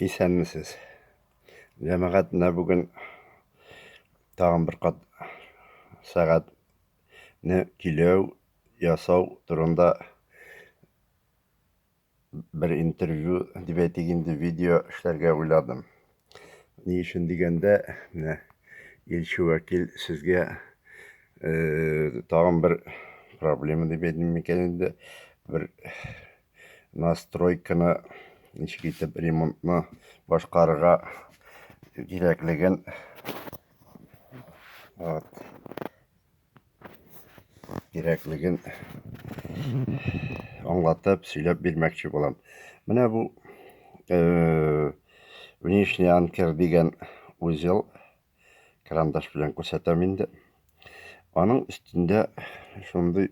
Исәнмесез. Җәмәгать менә бүген тагын бер кат сәгатьне көйләү, ясау турында бер интервью дип әйтик инде, видео эшләргә уйладым. Ни өчен дигәндә, менә илче вәкил сезгә э, тагын бер проблема дип әйтим микән инде, бер настройканы ничек итеп ремонтны башкарырга кирәклеген вот кирәклеген аңлатып сөйләп бирмәкче булам менә бу э, внешний анкер дигән узел карандаш белән күрсәтәм инде аның өстендә шундый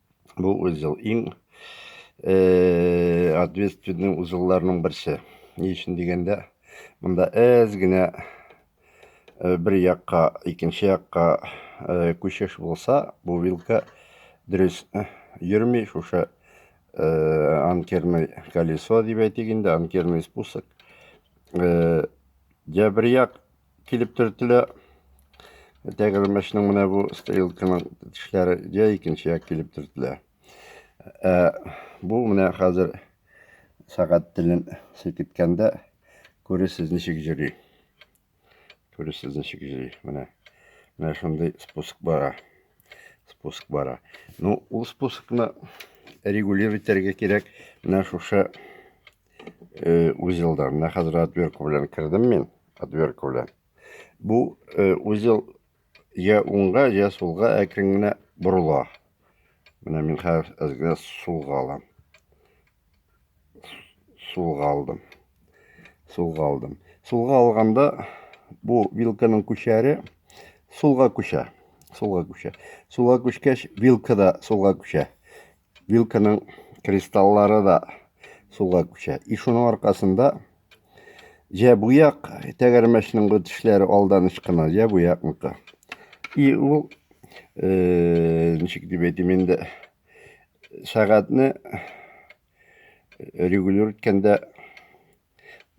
бу узел иң э, ответственный узелларның берсе. Ни өчен дигәндә, монда әз генә э, бер якка, икенче якка э, күчеш булса, бу вилка дөрес йөрми, шушы анкерный колесо дип әйтик инде, анкерный спусок. Дә бер як килеп төртелә. Тәгәрмәчнең менә бу стрелканың тешләре я икенче як килеп төртелә. Ә бу менә хәзер сәгать телен селкеткәндә күресез ничек җөри. Күресез ничек җөри. Менә менә шундый спуск бара. Спуск бара. Ну, ул спускны регулировать итәргә кирәк. Менә шушы э, узелдарына хәзер отвертка белән кердем мин отвертка белән бу э, узел я уңга я сулга әкрен генә борыла менә мин хәзер әзгә сулга алам сулга алдым сулга алдым сулга алганда бу вилканың күчәре сулга күчә сулга күчә сулга күчкәч вилка да сулга күчә Вилканың кристаллары да суга күчә. И шуның аркасында җә буяк тәгәрмәчнең бу тешләре алдан ычкына, җә буякныкы. И ул э, ничек дип әйтим инде, сәгатьне регулир иткәндә,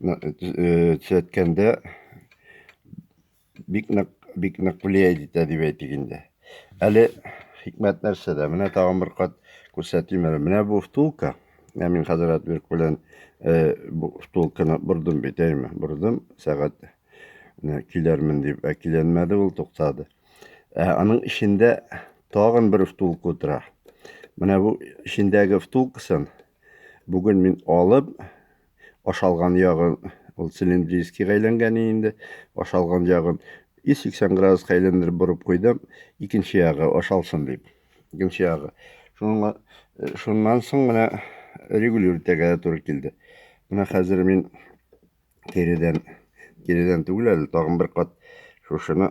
э, төзәткәндә Бик нык, бик нык влияет итә дип әйтик инде. Әле хикмәт нәрсәдә? Менә тагын бер кат күрсәтим әле. Менә бу втулка. Ә мин хәзер отвертка белән э, бу втулканы бордым бит, әйме? Бордым сәгать менә килермен дип, ә киленмәде ул, туктады. Ә аның эчендә тагын бер втулка утыра. Менә бу эчендәге втулкасын бүген мин алып, ашалган ягын ул цилиндрическийга әйләнгән инде ашалган ягын 180 градуска әйләндереп борып куйдым икенче ягы ашалсын дип икенче ягы шуңа э, шуннан соң менә регулировать итәргә туры килде менә хәзер мин киредән киредән түгел әле тагын бер кат шушыны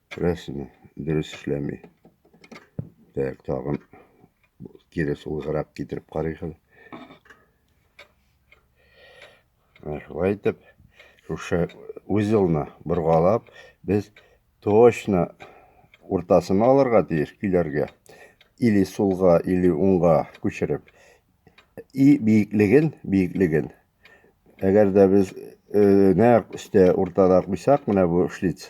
Күрәсезме, дөрес эшләми. Так, тагын кире сулгырак китереп карыйк әле. Шулай итеп, шушы узелны боргалап, без точно уртасын алырга тиеш көйләргә. Или сулга, или уңга күчереп. И биеклеген, биеклеген Әгәр дә без нәкъ өстә уртада куйсак, менә бу шлиц,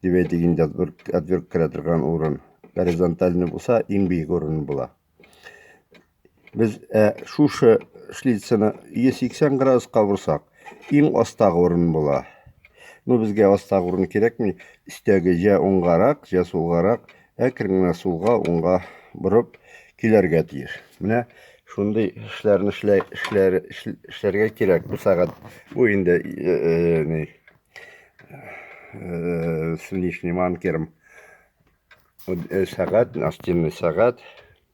дип әйтик инде, отвертка керә торган урын, горизонтальный булса, иң биек урын була. Без ә, шушы шлицны 180 градуска бурсак, иң астагы урын була. Ну, безгә астагы урын кирәкми, өстәге җә уңгарак, җә сулгарак, Әкрен генә сулга, уңга борып киләргә тиеш. Менә шундый эшләрне эшләр, эшләр, эшләргә кирәк. Бу сәгать бу инде э, э, ни э, с внешним анкером сәгать, настенный сәгать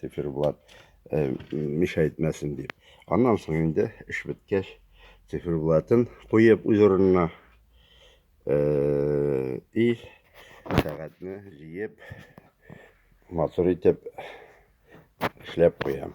циферблат э, миша итмәсен дип. Аннан соң инде эш беткәч, циферблатын куеп үз урынына э, и сәгатьне җыеп матур итеп эшләп куям.